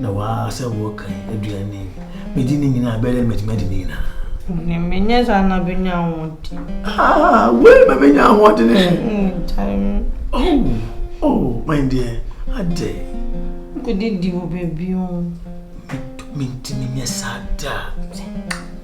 Na waa sɛ wɔ kan aduan ne nwi. Medi ne nyinaa bɛyɛ dɛ mɛtumi adi ne nyinaa. Ne menyɛ saa na bɛnya ahoɔden. Ah, wei ma mɛnya ahoɔden. Oh, oh, my dear, adɛ. Nkɔdidi wɔ baabi o. Mentumi nyɛ saa da.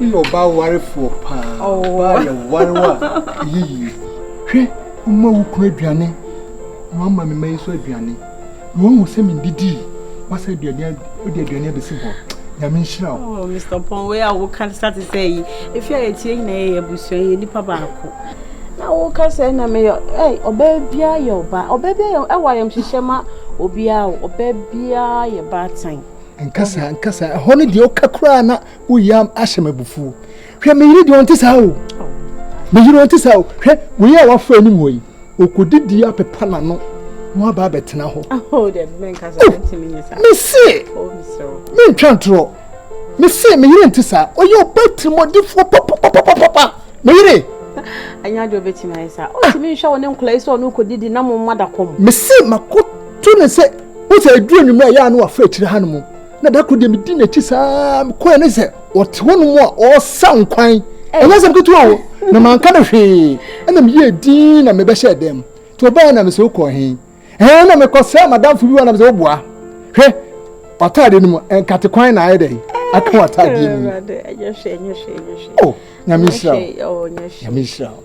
Woyɛ ɔbaa warefoɔ paa. Ɔbaa yɛ ware a ɛyɛ yie. Hwɛ, woma wo kunu aduane na wama me mma yi nso aduane. Na wɔn wɔ sɛ mendidi yi, wasa aduane wode aduane abɛsi hɔ. Nyame nhyira wo. Oh, Mr. Pon, wei a woka sa te sɛ yi. Efi a yɛtie nyinaa yɛ abusua, yɛ nipa baako. Na woka sɛ na meyɛ ɛ ɔbaa biara yɛ ɔbaa. Ɔbaa biara yɛ ɛwɔ ayamhyehyɛ ma obiara o. Ɔbaa biara yɛ baatan. Nka saa, nka saa. Ɛhɔ no deɛ ɔka koraa na woyi ahyɛ me abufuo. Hwɛ, me yere deɛ ɔnte saa o. Me yere ɔnte saa o. Hwɛ, wei a wafa anim hɔ yi, ɔkɔdidi apepa n'ano na waba abɛtena hɔ. Oh, mese, oh, mentwa ntorɔ. Mese, me yere nte saa. Ɔyɛ ɔba tirimɔdefoɔ papapapapa. Me yere. Anya deɛ ɔbɛtumi ayɛ saa. Ɔtumi nhwɛ wo ne nkɔla yi sɛ ɔno kɔdidi na mo mma da kɔm. Mese, makɔto ne sɛ Wo sɛ ɛduru anwummerɛ a ɛyɛ a na waforo akyire hanom na da koro deɛ medi n'akyi saa mekɔɛ ne sɛ ɔte hɔ nom a ɔresa nkwan ɛnyɛ sɛ mketewa o na manka no hwee ɛna meyɛɛ din na mebɛhyɛɛ dɛm mu nti ɔbɛɛ na mesɛ wokɔɔ he ɛɛ na mekɔ sɛ madamfo bi wa na mesɛ woboa hwɛ w'ataadeɛ no mu nkate kwan na ayɛ dɛ aka w'ataadeɛ mu o nyame nhyira o nyame nhyira o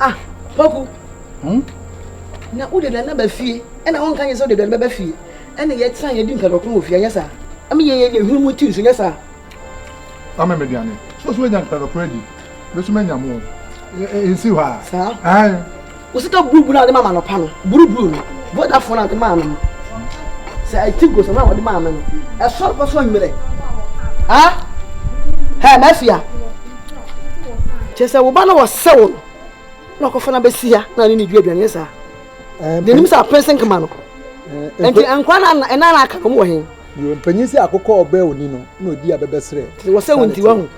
ah poku hmm? na wode dane aba fie ɛna wonka nyɛ sɛ wode dane bɛba fie ɛne yɛtena yɛdi nkadɔko wɔ fie anyɛ saa ɛme yɛyɛ yɛ hwene mu ti nso nyɛ saa ame me duane so so anya nkadɔko adi bɛsoma anya mo nsi hɔ a saa Wo sika buruburu a wɔde ma me anɔpa no, buruburu no, Vodafone a wɔde maa me no, sɛ ɛyɛ Tigo, sɛ no a wɔde maa me no, ɛsɔre kɔ so anwummerɛ. Ha? Hɛ, Mafia. Kyerɛ sɛ wo ba no wɔsɛ wo no, na ɔkɔfa no abɛsi ha na ne ne dua aduane saa. N'anim sɛ apɛnse nkema no. Nti nkwa na ɛna na aka no, ɔmo wɔ he? Yo, mpanyin sɛ akokɔ ɔbɛ oni no, na odi abɛbɛsrɛ. Wɔsɛ wo nti wahu.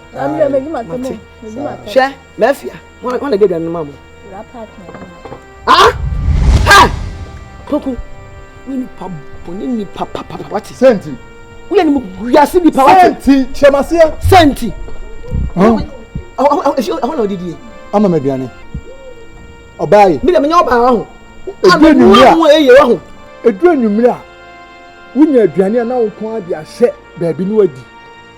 Hwɛ, Mafia. Wọn wọn na di aduane no ma mo. Wura paaki na ɛdi ma. Ah! Ha! Poku, wo nipa bɔ ne nipa papapa wate. Senti. Wo yɛ ne mu wiase nipa wate. Senti kyerɛmaseɛ. Senti. Ɛhɔ na ɔdidi yɛ. Ama ma aduane. Ɔbaa yi. Mi na mi nya ɔbaa wahu. Edu enyimire a. Ama mu eye wahu. Edu enyimire a. Wonya aduane a na wo nko ara de ahyɛ baabi no adi.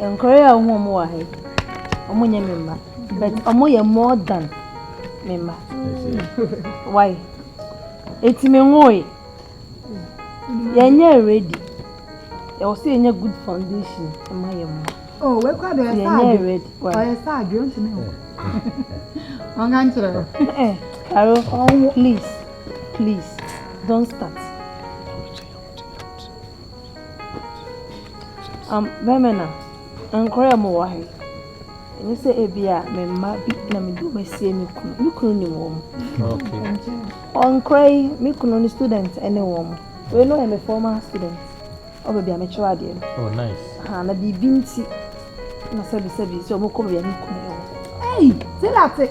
Nkoraa a wohu wɔn wɔ ha yi, wɔn nyɛ me mma, but wɔn yɛ more than me mma. Why? Eti me nwoe. Yɛnyɛ ready. Yɛwɔ sɛ yɛnyɛ good foundation ma yɛn mma. Oh, we kwa do yɛ sad. Yɛnyɛ ready. Why? Ɔyɛ sad, yɛn ntumi ho. Wɔn ka nkyerɛ. Eh, Carol, please, please, don't start. Am Bɛmena, Nkora a mowɔ ha yi, ɛnyɛ sɛ ebia me mma bi na mede wɔn asie me kunu. Me kunu nim wɔn. Okay. Nkora yi, me kunu ne student ne wɔn. Wei no yɛ me former student. Ɔbɛ bi a mekyerɛ adeɛ no. Oh, nice. Ha, na biribi nti, na sɛbisɛbi sɛ wɔkɔ baabi a me kunu yɛ wɔn. Ei, te na te.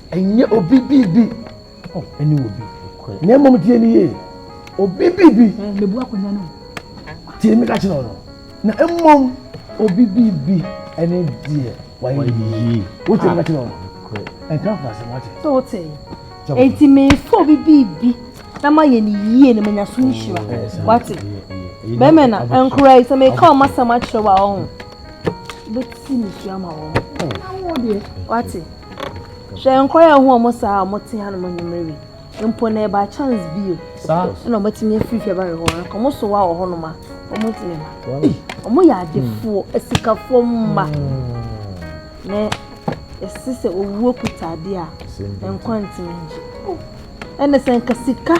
Ɛnyɛ obi biribi. Oh, ɛne obi. Na mmom tie ne yie. Obi biribi. Eh, mebu akonnwa no. Tie me ka kyerɛ ɔno. Na mmom obi biribi ɛne deɛ wayɛ yie. Wotie me ka kyerɛ ɔno. Ɛnka mfa asɛm wate. So wote. Enti mefa obi biribi na mayɛ ne yie na manya so nhyira. Wate. Bɛmɛ na nkora yi sɛ meka ɔma sɛm akyerɛ wa ɔho. bɛti ne sua ma wɔn awoɔ deɛ wate hwɛ nkɔyɛ ho ɔmo saa ɔmo te ha no mo nyimire wi mpo na ɛba chance bio ɛna ɔmo atumi afiri fɛ ba wɔ hɔ nka ɔmo so wa wɔ hɔ nom a ɔmo ntumi ma ɔmo yɛ adefoɔ hmm. asikafoɔ mma hmm. na ɛsi sɛ owuo kuta adeɛ a nkwa ntumi ngye ɛna sɛ nka sika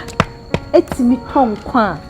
etumi tɔ nkwa a.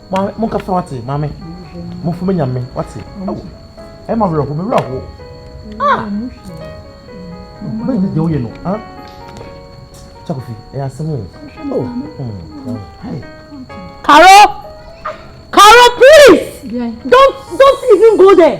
Maame, mo nkasa wate, maame. Mo fo me nyame wate. Awo, ẹ ma wura ho, me wura ho. Ah! Bẹ́ẹ̀ ni deɛ woyɛ no, ah? Chakofi, ẹ yà sẹ́mu. Oh, hmm, hey. Karo! Karo, please! Don't, don't even go there!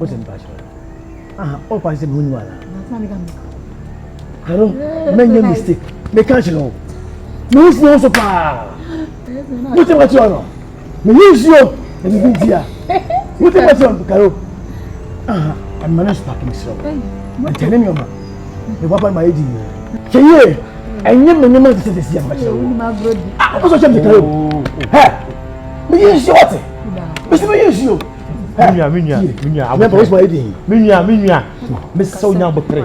o sɛ mpa kyerɛ aha o pa sɛ mi hunu wala hello mɛ nye mistake mɛ kan kyerɛ o mɛ n funu so paa mo tɛ ma ti ɔnɔ mɛ yi nsuo na mi bi n tia mo tɛ ma ti ɔnɔ karo aha ɛmɛ ne spa kemi srɛ o ɛtɛ ne nneɛma mɛ papa ma ye di nyina kyɛ yie ɛnyɛ mɛ nneɛma ti sɛ sɛ si ama kyerɛ o a o sɔ kyɛ mi karo ɛ mɛ yi nsuo ɔte mɛ sɛ mɛ yi nsuo. me nua me nua me nua abotire me nua me nua mesɛ wo nya abotire.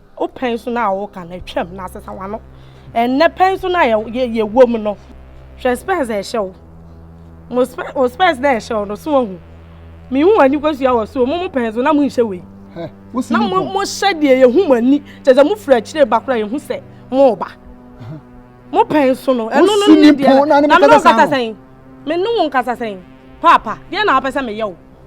Wo pɛn so no a woka no, twam na sesa w'ano. Ɛnnɛ pɛn so no a yɛwom no, hwɛ spɛs a ɛhyɛ wo. Mo spɛs, wo spɛs na ɛhyɛ wo no, so wahu. Mehu w'ani kosua wɔ so, mo mo pɛn so na monhyɛ wei. Na mo mo hyɛ deɛ yɛhu mo ani, kyɛ sɛ mofiri akyire ba koraa yɛhu sɛ moba. Mo pɛn so no, ɛno no ne deɛ na me ne wo nkasa sɛn? Me ne wo nkasa sɛn? Paapa, deɛ na wopɛ sɛ meyɛ wo?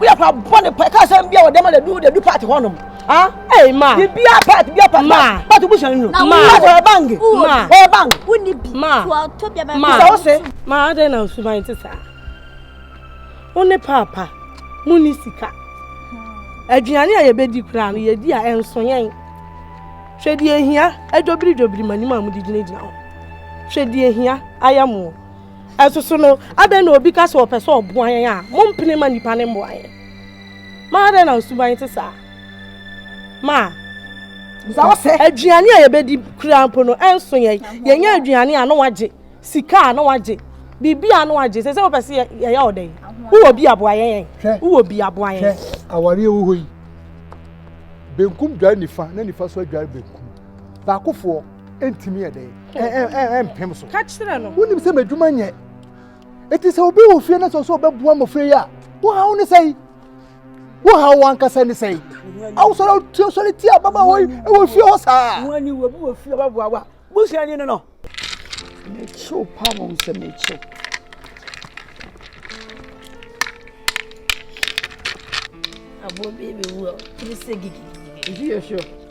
woyɛ akora bɔne pa ɛka sɛ bia wɔdɛma na du dadu part hɔ nom ah hey ma bibia part bia part ma part busa no ma ɔyɛ bang ma ɔyɛ bang woni bi ma ɔtɔ bia bang ma ɔsɛ ma adɛn na nsuman te saa wo ne paapa mu ne sika aduane a yɛbɛdi koraa no yɛdi a ɛnso yɛn hwɛ deɛ hia adwobiri dwobiri ma nim a mode gyinagyina hɔ hwɛ deɛ hia ayɛ mo Ɛsoso no, adɛn na obi ka sɛ ɔpɛ sɛ ɔboa yɛn a, mompene mma nnipa no mmoa yɛn? Ma adɛn na nsuban te saa? Ma aduane a yɛbɛdi kura mpo no ɛnso yɛn. Yɛnyɛ aduane a na wagye, sika a na wagye, biribi a na wagye. Sɛ sɛ wopɛ sɛ yɛyɛ wo dɛn? Wowɔ bi aboa yɛn? Wowɔ bi aboa yɛn? Awareɛ wɔ hɔ yi, benkum dware nifa na nifa so adware benkum. Baakofoɔ. ɛntumi yɛ dɛn ɛmpem so ka kyerɛ no wonim sɛ m'adwuma nyɛ ɛti sɛ obi wɔ fie no sɛ sɛ ɔbɛboa mmɔfra yi a wohaw ne sɛi wohaw wankasa ne sɛi awosɔre sɔre ti a baba wɔ ɛwɔ fie hɔ saa wani wɔ bi wɔ fie ɔbɛboa wa busua ni no no mekyew pa mo sɛ mekyew aboɔ bi bɛwu a ne sɛ gigigigi ɛhwiyɛ hwɛ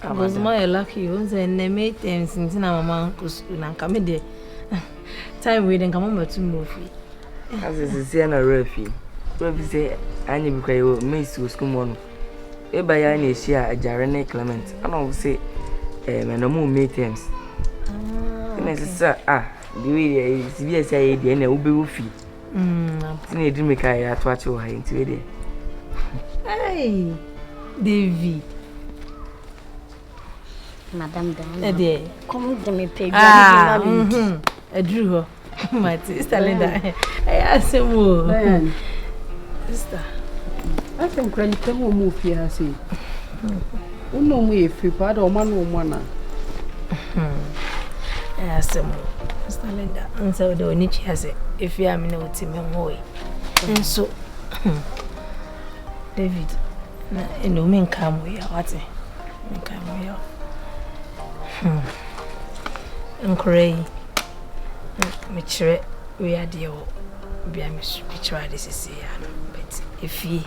Because mo ayɛ lucky o, nsɛ nnɛ May terms nti na mama nkɔ sukuu na nka me deɛ time wei de nka mama tu mu ofie. Ase sisi na ɔrɛ fi kura fi sɛ anya bi kura yɛ wɔ May si wɔ sukuu mu no eba ya na ehyia agyare ne Clement ana ɔmo sɛ ɛɛ eh, mɛ na ɔmo May terms ah, ɛna sisa ah deɛ yɛ sibi ɛsɛ ayɛ deɛ ɛna wobɛwɔ fie. Sɛnea ɛdi mmirika a ɛyɛ ato akye wɔ ha yi nti wei deɛ. Hey, Davy. Madam Dama. Ɛdeɛ. Kɔm de me pɛ dwa ne bi ma me. Ah, mhm. Aduru hɔ. Mate, Sister Linda. Ɛyɛ asɛm o. Sister. Asɛm kura nipa mu ɔmu ofie ha sei. Wo na ɔmo yɛ firi paa dɛ ɔmo ano ɔmo ana. Ɛyɛ asɛm o. Mr. Linda, nsɛ wo dɛ w'ani twe ase efi a me na wote me ho yi. Nso David na ɛna omi nka mo ya wate nka mo ya. Nkora yi mekyerɛ wei adeɛ wɔ bia mekyerɛ ade sisi ya no but efie.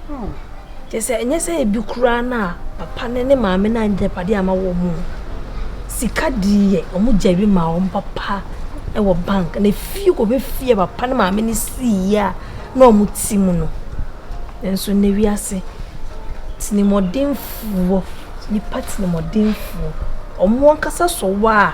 Hmm. Kyerɛ sɛ ɛnyɛ sɛ ebi koraa na papa ne ne maame na agyapadeɛ ama wɔn mu. Sika deɛ wɔn gyari ma wɔn papa wɔ bank na fie kɔ bɛ fie papa ne maame ne sii a na wɔn ti mu no. Nanso na wiase tinimɔdenfoɔ nipa tinimɔdenfoɔ wɔn ankasa sɔ wɔ a.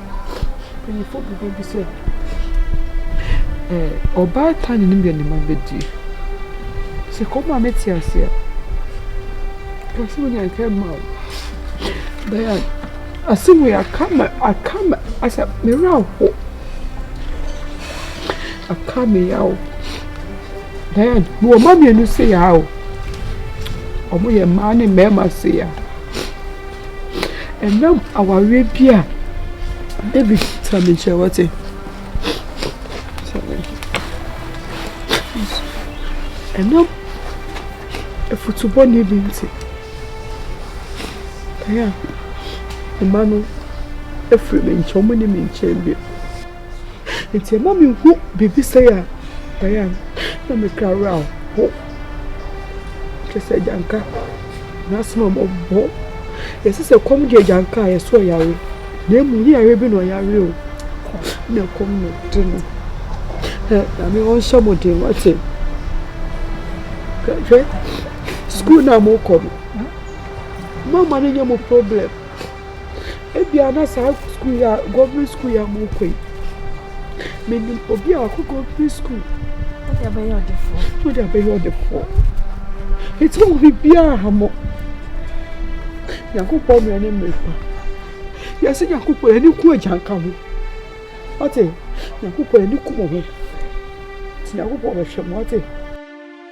Mpanyimfo bobɔ bi sɛ, Ɔbaatan ne ne nua ne mma bedie. Sɛ ɛkɔm ma me te ase a, ka sɛ onya nka mma wo. Dayan, asɛm wei aka me aka me asɛ me werɛ ahow. Aka me yaw. Dayan, mewɔ mma mmienu seyaa o. Wɔyɛ mmaa ne mmarima seyaa. Ɛnam awareɛ bi a David tena me nkyɛn wɔte. Ɛnam afutubɔne bi nti. Ɛyɛ a mma no afiri me nkyɛn wɔn ne me nkyɛn bio. Nti ɛma me hu biribi sɛe a ɛyɛ a na me kra werɛ aho. Kyerɛ sɛ agyanka n'asɛm a mɔbɔ. Yɛsɛ sɛ kɔm de agyanka a yɛso ɔyare. Na emu ne yare bi na ɔyare o. Na kɔm na ɔde no. Na me ɔnhyɛ mo den wate. Hwɛ sukuu na mokɔ no. Mama no nyɛ mo problem. Ebia na saa sukuu yi a government sukuu yi a morekɔ yi, menim obi a ɔkɔ government sukuu. Wode abɛyɛ ɔdefoɔ. Wode abɛyɛ ɔdefoɔ. Eti wɔn biribiara ha mo. Nyankopɔn mmerɛ ne mmerɛ pa. Yɛsɛ Nyankopɔn yɛn ani ku agya nka ho. Ɔte Nyankopɔn yɛn ani ku mo ho. Nti Nyankopɔn bɛhwɛ mo ɔte.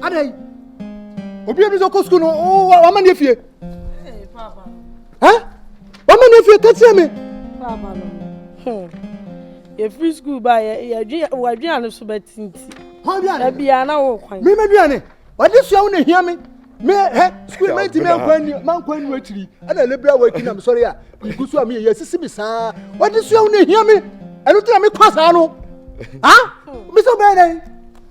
adɛn obi bi sɛ ɔkɔ sukuu no wama ne afie wama ne afie ka kyerɛ me hmm. yɛfiri sukuu ba yɛadwea no so bɛtinti abia na wo kwan memadwea ne ɔde sua wo na hia me me hɛ sukuu ma nti mankwa nnu akyiri ɛna lebra wati na mesɔre a megu so a meyɛ yɛsisi me saa ɔde sua wo na hia me ɛno tena mekɔ saa no a mesɛ wobɛyɛ dɛn